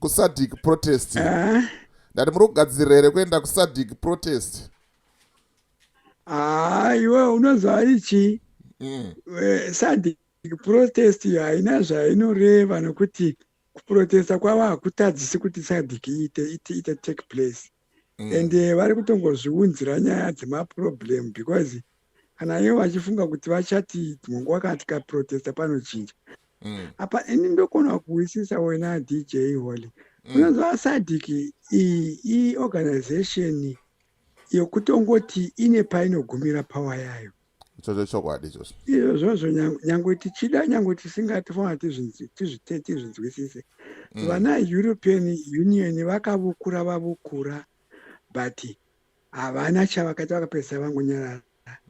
kusadic protest eh? ndati muri kugadzirira here kuenda kusadic protest haa ah, iwe unoziva ari chii mm. eh, sadic protest haina zvainoreva nokuti kuprotesta kwavo hakutadzisi kuti sadic iite iite take place mm. and eh, vari kutongozviunzira nyaya dzemaproblem because kana ivo vachifunga kuti vachati dzimwe nguva kana tikaprotesta panochinja mm. apa ini ndokona kuwisisa wena dj holy mm. unonzwa sadic iyi iyi organization yokutongoti ine painogumira power yayo ichocho chokwadi ichocho izvozvo nyangwe tichida nyangwe tisingatifona tizvinzwisise mm. vana european union vakavukura vavukura but havana chavakaita vakapedzisa vangonyarara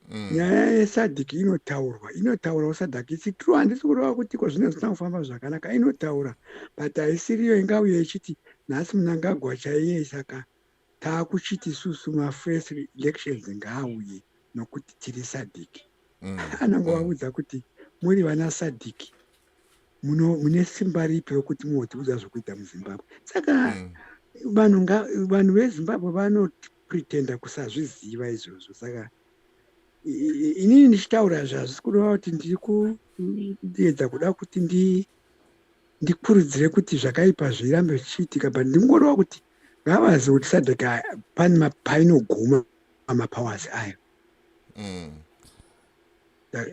mm. nyaya yesadhiki inotaurwa inotaurawo sadhiki isi true handisi kureva kuti ko zvine zvisina kufamba zvakanaka inotaura but haisiriyo ingauye ichiti nhasi munangagwa chaiye saka taakuchiti isusu mafirst elections ngaauye nokuti tiri sadic mm. anangovaudza mm. kuti muri vana sadic mune simba ripi rokuti muotiudza zvokuita muzimbabwe saka mm. vanhu vanhu vezimbabwe vanopretenda kusazviziva izvozvo saka inini ndichitaura izvi hazvisi kureva kuti ndiri kuedza kuda kuti ndikurudzire kuti zvakaipa zvirambe zvichiitika but ndingoreva kuti ngavazi kuti sadhaka pane painoguma mapowers ayo mm.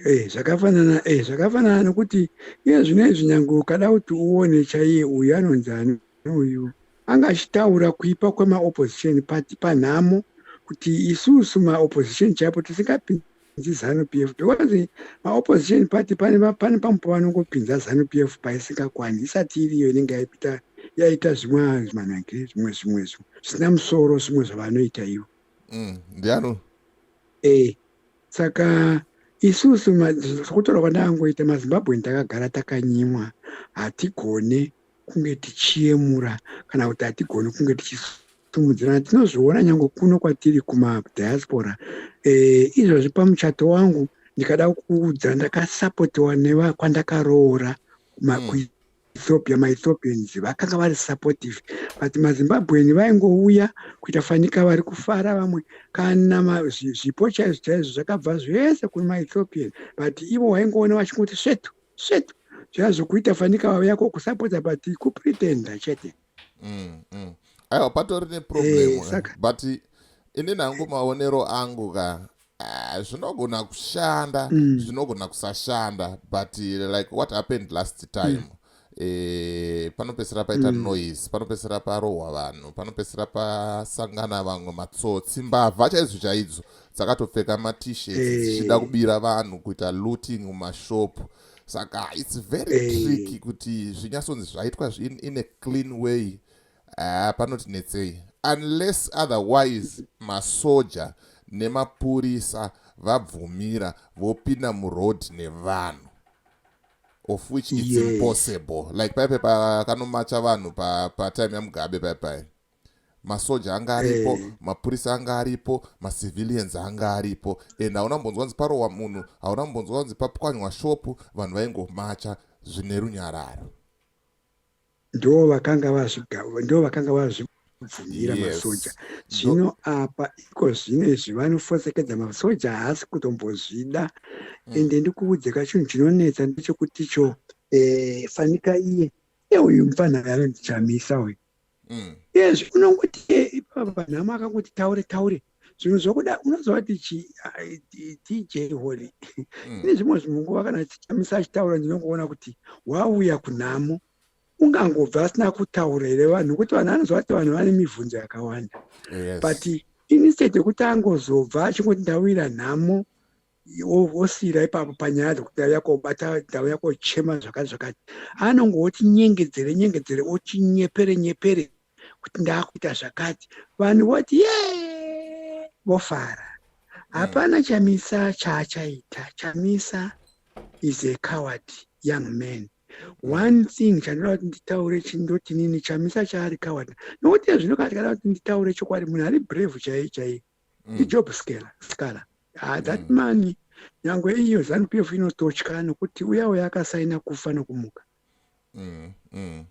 eh, zvakafanana eh, zvakafanana nokuti iye zvino izvi nyange ukada kuti uone chaiye uyu anonzi ani uyu anga achitaura kuipa kwemaopposition pati panhamo kuti isusu maopposition chaipo tisingapindi dzi zanu p f because maopposition party pane pane pamwe pavanongopinza zanu p f paisingakwani isati iriyo inenge yaipita yaita zvimwe zvimanakire zvimwe zvimwe zvo zvisina musoro zvimwe zvavanoita ivo mm, ndiano e saka isusu kutorwa kwandakangoita mazimbabwe ndakagara takanyimwa hatigone kunge tichiyemura kana kuti hatigoni kunge tichisimudzirana tinozviona nyange kuno kwatiri kumadiaspora e, izvozvi pamuchato wangu ndikada kuudza ndakasapotiwa nevakwandakarowora makuita ethiopia maethiopians vakanga vari supportive but mazimbabweni vaingouya kuita fanika vari kufara vamwe kana zvipo chaizvo chaizvo zvakabva zvese kune maethiopian but ivo waingoona vachingoti svetu shit zvazokuita fanika vave yako kusapota but kupretenda chete mm, mm. aiwa patori neproblem hey, eh, saka... but ini nangu maonero angu ka ah, zvinogona kushanda mm. zvinogona mm. kusashanda but like what happened last time mm e, panopesera paita mm. noise panopesera parohwa vanhu panopesera pasangana vamwe matsotsi mbavha chaizvo chaidzo dzakatopfeka matishets eh. dzichida hey. kubira vanhu kuita looting mumashop saka its very hey. Eh. tricky kuti zvinyatsonzi zvaitwa in, in a clean way uh, panotinetsei unless otherwise masoja nemapurisa vabvumira vopinda muroad nevanhu of which its yes. impossible like paipe pakanomacha vanhu patime pa yamugabe paipai masoja anga aripo eh. mapurisa anga aripo macivilians anga aripo and hauna mbonzwa kunzi parowa munhu hauna mbonzwa kunzi papwanywa shopu vanhu vaingomacha zvine runyararo ndo vakanga ndo vakanga vazvibvumira masoja zvino apa iko zvino izvi vanofosekedza masoja haasi kutombozvida mm. ende ndikuudze kachinhu chinonetsa ndechekuti cho eh, fanika iye euyu mfanha yaro ndichamisa uyu mm. yes unongoti eh, ipapa nhamo akangoti taure taure zvinhu zvokuda unozova tichi tj holy mm. ine zvimwe zvimwe nguva kana chichamisa achitaura ndinongoona kuti wauya kunhamo ungangobva asina kutaura here vanhu kuti vanhu anozova kuti vanhu vane mibvunzo yakawanda but instead yekuti angozobva achingoti ndawira nhamo wosiira ipapo panyaya dzekuti ndau yako obata ndau yako ochema zvakati zvakati anonge otinyengedzere nyengedzere otinyepere nyepere kuti ndaakuita zvakati vanhu voti ye vofara hapana chamisa chaachaita chamisa is a coward young man one thing chandinoda kuti nditaure chindotinini chamisa chaari coward nokuti ezvino katikada kuti nditaure chokwadi munhu ari brave chaiye chaiye mm. ijob scala scala ah, that mm. man nyangwe iyo zanu p f inototya nokuti uya uya akasaina kufa nokumuka mm. Mm.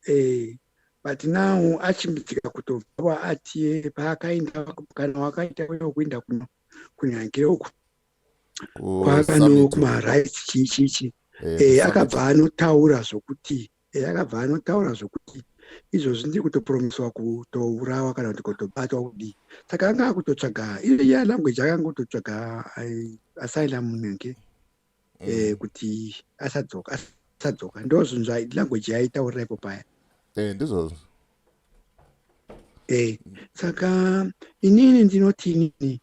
Eh, but now achimbidzika kutobva atie paakaenda kana wakaita uya wekuenda kuno kunyange uku kwaakano kumarights chii chii chii Eh, eh, akabva anotaura zvokuti ehe akabva anotaura zvokuti izvozvi ndiri kutopromiswa kutourawa kana kuti kutobatwa kudii saka anga akutotsvaga iya language akangototsvaga asylum nenge mm. eh, kuti asadzoka asadzoka ndo zvinhu zvalanguage yaitaurira ipo paya eh, ndizvozvo eh, saka inini ndinoti inini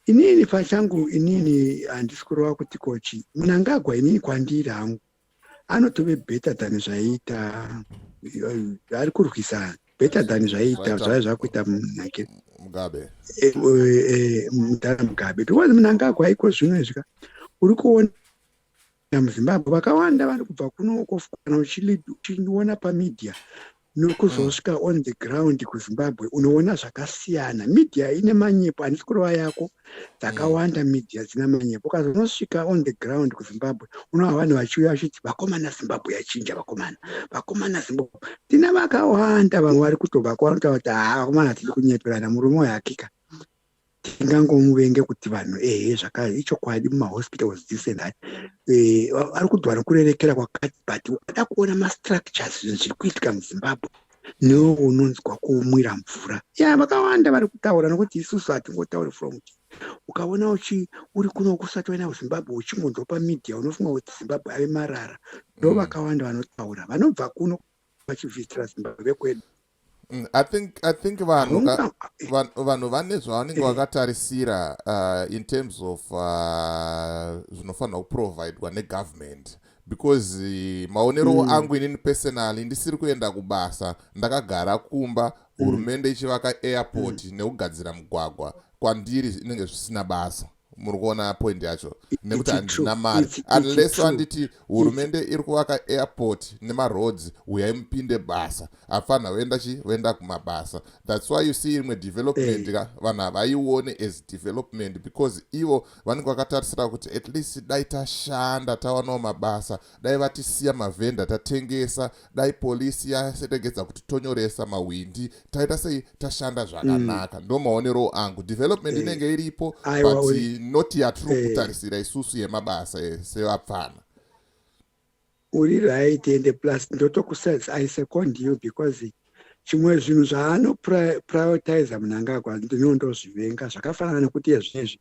inini pachangu inini handisi kurova kuti kochi munangagwa inini kwandiri hangu anotove better than zvaiita ari kurwisa better than zvaiita zvave zvakuita munake mugabe eh, eh, mudhara mugabe because munangagwa iko zvino izvi ka uri kuona muzimbabwe vakawanda vari kubva kuno kofukana uchiona pamedia nokuzosvika mm. on the ground kuzimbabwe unoona zvakasiyana media ine manyepo handisi kurova yako dzakawanda mm. media dzina manyepo ukazonosvika on the ground kuzimbabwe unoa vanhu vachiuya vachiti vakomana zimbabwe yachinja vakomana vakomana zimbabwe tina vakawanda vamwe vari kutobva kwavanotaura kuti haa vakomana tiri kunyeperana murume uyo hakika tingangomuvenga kuti vanhu ehe zvakare ichokwadi mumahospitals this and that eh, ari kudwa nokurerekera kwakati but ukada kuona mastructures zvinhu zviri kuitika muzimbabwe newo unonzwa kumwira mvura ya vakawanda vari kutaura nokuti isusu hatingotauri from ti ukaona uchi uri kuno kusati waenda kuzimbabwe uchingonzwa pamedia unofunga kuti zimbabwe ave marara ndo mm. vakawanda vanotaura vanobva kuno vachivhitira zimbabwe kwedu Mm, I think I think vanhu vanhu vane zvavanenge eh. vakatarisira uh, in terms of uh, zvinofanirwa uh, kuprovidwa negovernment because uh, maonero mm. angu inini personally ndisiri kuenda kubasa ndakagara kumba mm. hurumende mm. ichivaka airport mm. nekugadzira mugwagwa kwandiri inenge zvisina basa muri kuona point yacho nekuti handina mari unless wanditi hurumende iri kuvaka airport nemaroads huyai mupinde basa afanha voenda chi voenda kumabasa thats why you see imwe development eh. ka vanhu havaione as development because ivo vanenge vakatarisira kuti at least dai tashanda tawanawo mabasa dai vatisiya mavhenda tatengesa dai polisi yasetegedza kuti tonyoresa mahwindi taita sei tashanda zvakanaka mm. ndo maoneroo angu development eh. inenge iripo but not yatiri eh. kutarisira isusu yemabasa sevapfana uri right and plus ndotokusaisa second you because chimwe zvinhu zvaanoprioritiza munangagwa ndinoo ndozvivenga zvakafanana nekuti ezvinezvi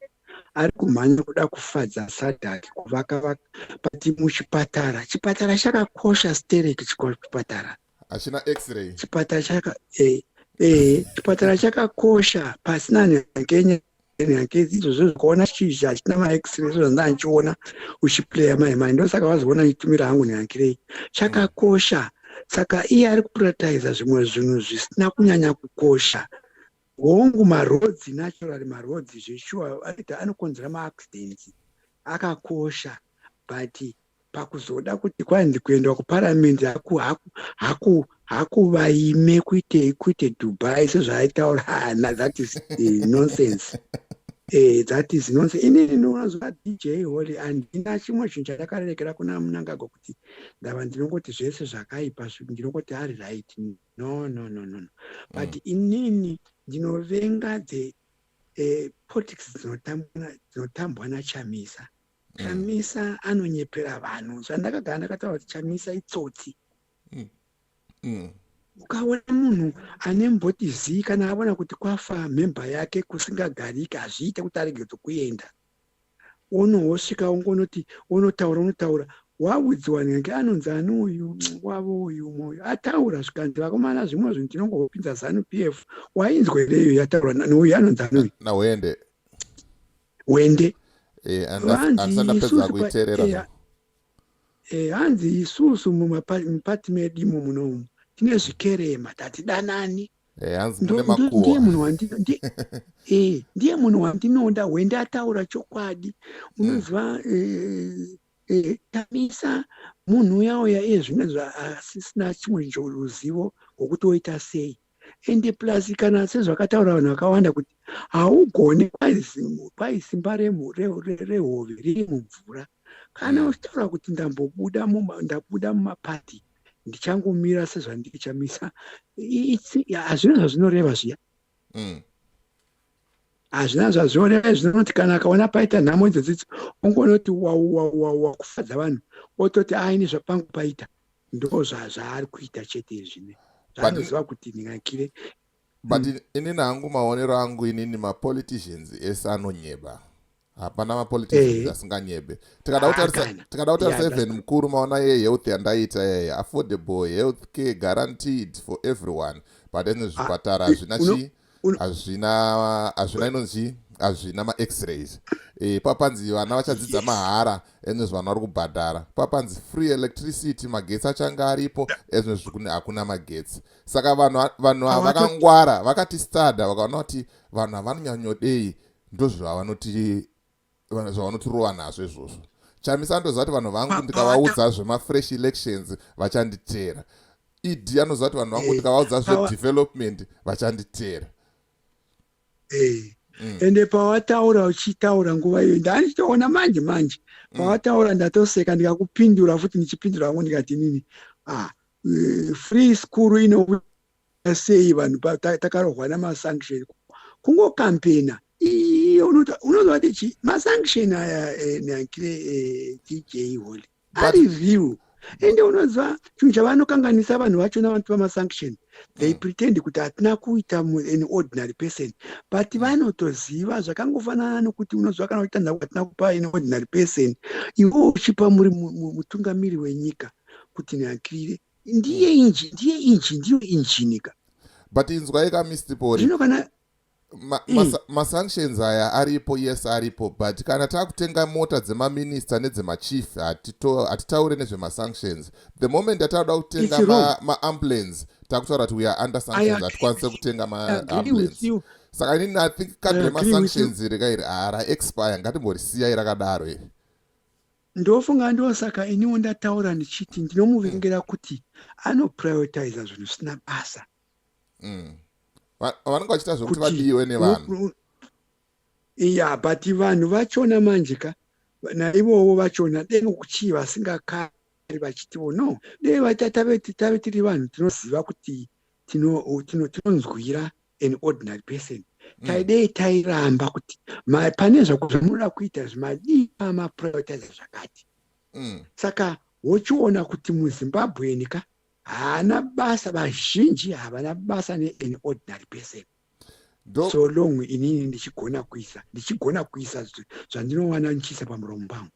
ari kumhanya kuda kufadza sadhaki kuvaka vaka but muchipatara chipatara chakakosha stereki chipatara hachina x-ray chipatara chaka eh, eh, chipatara chakakosha pasina nyangenyaya hankizi izvozvo zvikuona chizha hachitina maexre izvo zvandanga ndichiona uchiplaya mai mai ndosaka vazoona ndichitumira hangu nehankirei chakakosha saka iye ari kupratiza zvimwe zvinhu zvisina kunyanya kukosha hongu marodzi naturally marodzi zveshuwa aita anokonzera maaccidents akakosha but pakuzoda kuti kwanzi kuenda kuparamendi haku haku haku hakuvaime kuite kuite dubai sezvaaitaura hana that is uh, nonsense Eh, that is nonse ini ndinoona zuva dj holy handina chimwe chinhu chandakarerekera kuna munangagwa kuti ndava ndinongoti zvese zvakaipa ndinongoti ari right no no no no no but mm. inini ndinovenga the eh, politics dzinotambwa nachamisa mm. chamisa mm. anonyepera vanhu zvandakagara ndakataura kuti chamisa itsotsi mm. mm. ukaona munhu ane mboti zii kana avona kuti kwafa mhemba yake kusingagariki hazviite kuti arege dzokuenda unohosvika ungonoti unotaura unotaura waudziwa nenge anonzi ani uyu wavo uyu moyo ataura zvikanzi vakomana zvimwe zvinhu tinongopinza zanu p f wainzwereyo yataura neuyu anonzi ani uyu hwende eh, eh, hanzi isusu mumapati medu imo munomu tine zvikerema tatidanani ndiye munhu wandinoda hwende ataura chokwadi unoziva tamisa munhu uya uya iye zvimwe zvaasisina chimwe ruzivo rwokuti woita sei ende plus kana sezvakataura vanhu vakawanda kuti haugone kwai simba rehove riri mumvura kana mm. uchitaura kuti ndambobuda ndabuda mumapati ndichangomira sezvandiri chamisa hazvina zvazvinoreva zviya mm. hazvina zvazviona zvinoti kana akaona paita nhamo idzodzidzo ongonoti wauwauwawa kufadza vanhu ototi aini zvapangu paita ndo zvazvaari kuita chete izvine zvaanoziva kuti ndingakire but mm. inini hangu maonero angu inini mapoliticians ese anonyeba hapana mapoliticians eh. asinganyebe tikada kutarisa ah, even mukuru maona ye health yandaita yeye affordable health care guaranteed for everyone but ene ah, zvipatara hazvina chi hazvina hazvina inonzi hazvina max-rays e, papanzi vana vachadzidza yes. mahara ene zvanhu vari kubhadhara papanzi free electricity magetsi achange aripo ezvino zvikuti hakuna magetsi saka vanhu vanhu vakangwara vakati stada vakaona kuti vanhu havanonyanyodei ndozvavanotirova nazvo izvozvo chamisa andoziva kuti vanhu vangu ndikavaudza zvemafresh elections vachanditeera ed anoziva kuti vanhu vangu ndikavaudza zvedevelopment vachanditeera mm. ende pawataura uchitaura nguva iyoyi ndaanichitoona manje manje mm. pawataura ndatoseka ndikakupindura futi ndichipindura vangu ndikati nini ah, eh, free school inokuti sei vanhu takarohwa namasanction kungokampena iye unozovati chii masanction aya eh, neankire eh, tj holy ari real ende unoziva chinhu chavanokanganisa vanhu vacho navanoti vamasanction they mm. pretend kuti hatina kuita an ordinary person but mm. vanotoziva zvakangofanana nokuti unoziva kana uchiita nhau hatina kupa an ordinary person ivo uchipa muri mutungamiri wenyika kuti nyankirire ndiye hmm. inji ndiye inji ndiyo injinika but inzwai ka mr pori zvino kana hmm. masanctions ma, ma aya aripo yes aripo but kana takutenga mota dzemaminista nedzemachief hatitaure nezvemasanctions the moment ataakuda kutenga maambulance ma takutaura kuti weare under sanctions hatikwanise kutenga maambulance saka inini i think kadre masanctions iri kairi hara expire ngatimbori siyai rakadaro iri ndofunga ndosaka iniwo ndataura ndichiti ndinomuvengera kuti anoprioritiza zvinhu zvisina basa mm. vanenge vachiita zvekuti vadiwe nevanhu ya but vanhu vachona manje ka naivowo vachona dei nokuchii vasingakari vachitiwo no dei tave tiri vanhu tinoziva kuti tinonzwira an ordinary person mm. taidei tairamba kuti pane zvamunoda kuita zvimadii amaprioritize zvakati mm. saka wochiona kuti muzimbabweni ka haana basa vazhinji havana basa nean ordinary person Do. so long inini ndichigona kuisa ndichigona kuisa zvandinowana ndichiisa pamuromo pangu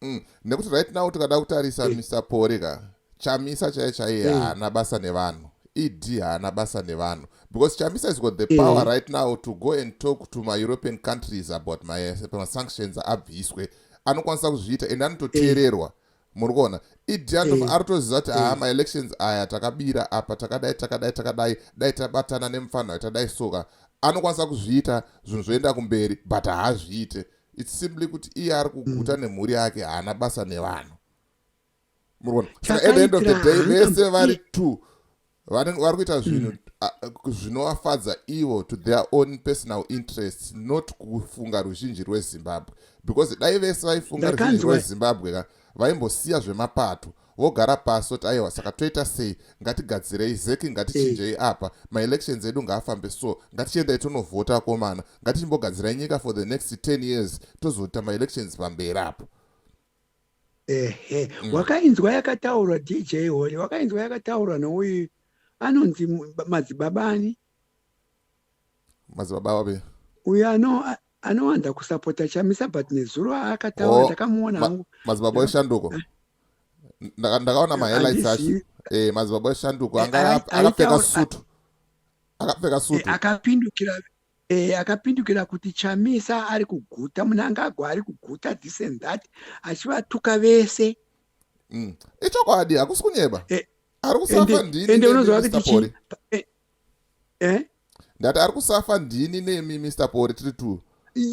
mm. nekuti right now tikada kutarisa eh. mr pore ka chamisa chaiye chaiye eh. haana basa nevanhu ed haana basa nevanhu because chamisa is got the eh. power right now to go and talk to maeuropean countries about masanctions abviswe anokwanisa kuzviita ende anototeererwa muri kuona ed aritoziva kuti haa maelections aya takabira apa takadai takadai takadai dai tabatana nemufanha tadai soka anokwanisa kuzviita zvinhu zvoenda kumberi but haazviite its simply kuti iye ari kuguta mm. nemhuri yake haana basa nevanhu murona saka at the end of the day vese vari two vanenge vari kuita zvinhu mm. zvinovafadza ivo to their own personal interests not kufunga ruzhinji rwezimbabwe because dai vese vaifunga ruzhinji rwezimbabwe ka vaimbosiya zvemapato vogara pasi voti aiwa saka toita sei ngatigadzirei zeki ngatichinjei eh. apa maelections edu ngaafambe so ngatichiendai tonovhota akomana ngatichimbogadzirai nyika for the next 10 years tozoita maelections pamberi apo ehe mm. wakainzwa yakataurwa dj hori wakainzwa yakataurwa nouyu anonzi madzibaba ani madzibaba avo be uyo ano a- anowanda kusapota chamisa but nezuro aakataura Oh, ndakamuona ma- hangu madzibaba eshanduko Ndaka- ndakaona mahighlights acho Handizivi. Eh, madzibaba eshanduko Eh, anga ai- aka- akapfeka aitaura- sutu akapfeka Eh, sutu akapindukira eh, akapindukira kuti chamisa ari kuguta munangagwa ari kuguta this and that achivatuka vese Mm. ichokwadi hakusi kunyeba Eh, ari kusafa ndini ende unoziva kuti chii eh, eh? ndati ari kusafa ndini nemi mr pori tiri two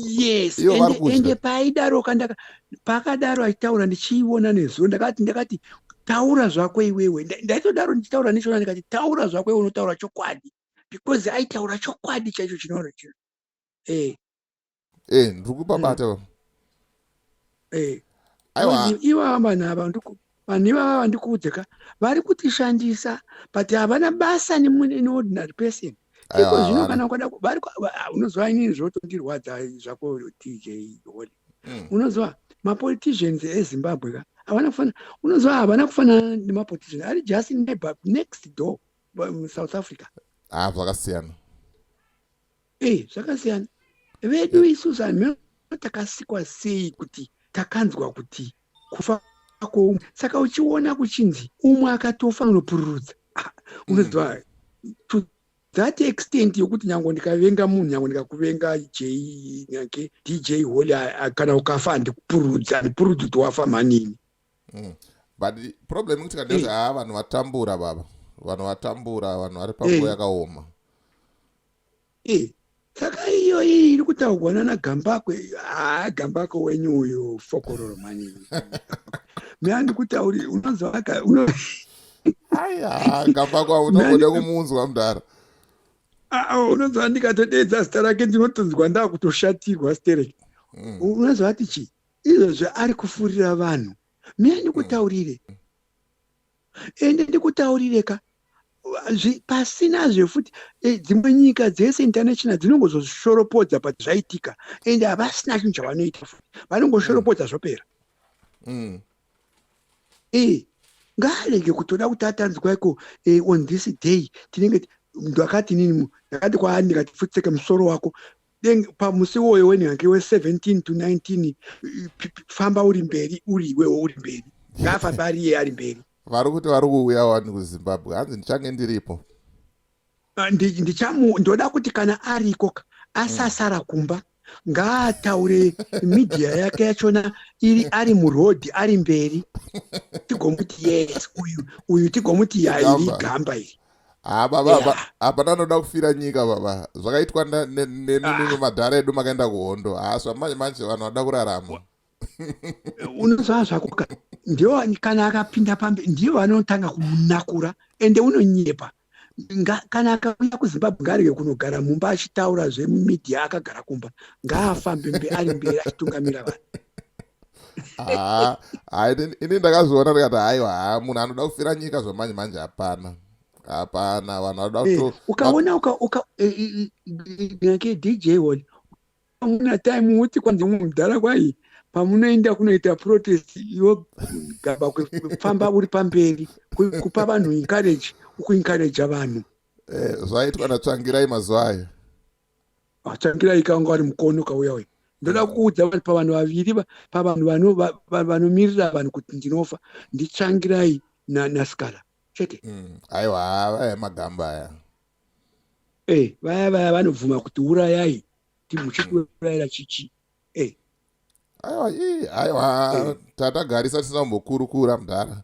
yes ende paidaro kandaka pakadaro achitaura ndichiiona nezuro ndakati ndakati taura zvako iwewe ndaitodaro ndichitaura nechona ndikati taura zvako iwe unotaura chokwadi because aitaura chokwadi chaicho chinoona chino e eh, eh ndiri kupabata mm. eh aiwa iwa vanhu ava ndiko vanhu ivava vandikuudze ka vari kutishandisa but havana basa neordinary person iko zvino kana ukada vari ah, unoziva inini zvotondirwadza zvako dj holy mm. unoziva mapoliticians ezimbabwe ka havana kufanana unoziva havana kufanana nemapolitician ari just neighbor next door south africa ah zvakasiyana ee eh, zvakasiyana vedu eh. isu zvanhu takasikwa sei kuti takanzwa kuti kufa kwoumwe saka uchiona kuchinzi umwe akatofa unopururudza ah, unoziva mm. to that extent yokuti nyango ndikavenga munhu nyango ndikakuvenga j nyake dj holy kana ukafa ndikupururudza ndipurudzi kuti wafa manini mm. but problem ikuti kandezve eh. haa vanhu vatambura baba vanhu vatambura vanhu vari panguva yakaoma Eh, saka iyo iyi iri kutaurwa nana gambakwe haa gambakwe wenyu uyu fokororo mani mea ndikutauri unonzwaka aya gambakwe unogona kumunzwa mudhara unonzwa ndikatodeedza zita rake ndinotonzwa ndakutoshatirwa sterek hmm. unonzwa ati chii izvozvo ari kufurira vanhu mea ndikutaurire ende ndikutaurire ka pasina zve futi e, dzimwe nyika dzese international dzinongozoshoropodza but zvaitika ende havasina chinhu chavanoita futi vanongoshoropodza mm. zvopera mm. e ngaarege kutoda kuti atanzwa iko e, on this day tinenge ndakati nini ndakati kwaani ndikati futseke musoro wako then pamusi iwoyo wenhange we17 to 19 famba uri mberi uri iwewo uri mberi ngaafamba ari iye ari mberi vari kuti vari kuuya wani kuzimbabwe hanzi ndichange ndiripo ah, ndichamu ndoda kuti kana ariko asasara kumba ngaataure midhiya yake yachona iri ari murodhi ari mberi tigomuti yes uyu uyu tigomuti yairi gamba iri Ah, baba Yeah. apa- apa ndanoda kufira nyika baba zvakaitwa nda- ne- nemi Ah. mimi madhara edu makaenda kuhondo hasva manje manje vanhu vada kurarama unoziva zvako ka ndiwo kana akapinda pambi ndiwo vanotanga kumunakura ende unonyepa Nga- kana akauya kuzimbabwe ngaarege kunogara mumba achitaura zvemumedia akagara kumba ngaafambe mbe ari mberi achitungamira vanhu Ah, ah, ini ini ndakazviona ndikati haiwa haa munhu anoda kufira nyika zvamanje manje hapana hapana vanhu vanoda Eh, kuto ukaona uka uka eh, eh, eh, nyake dj one amuna time uti kwanzi umwe mudhara kwai pamunoenda kunoita protest iwo gaba kufamba uri pamberi ku- kupa vanhu encourage ukuencourage vanhu eh, zvaitwa natsvangirai mazuva ayo Tangira ikanga ari mukono kauya uyu. Ndoda mm. kuudza vanhu pavanhu vaviri pavanhu vanomirira vanhu kuti ndinofa nditsvangirai nasikala chete. Mm. Aiwa vaya magamba aya. Eh, vaya vaya vanobvuma kuti urayai timuchikuurayira chichi. Eh. Aiwa, aiwa eh. tatagarisa tisina kumbokurukura mudhara.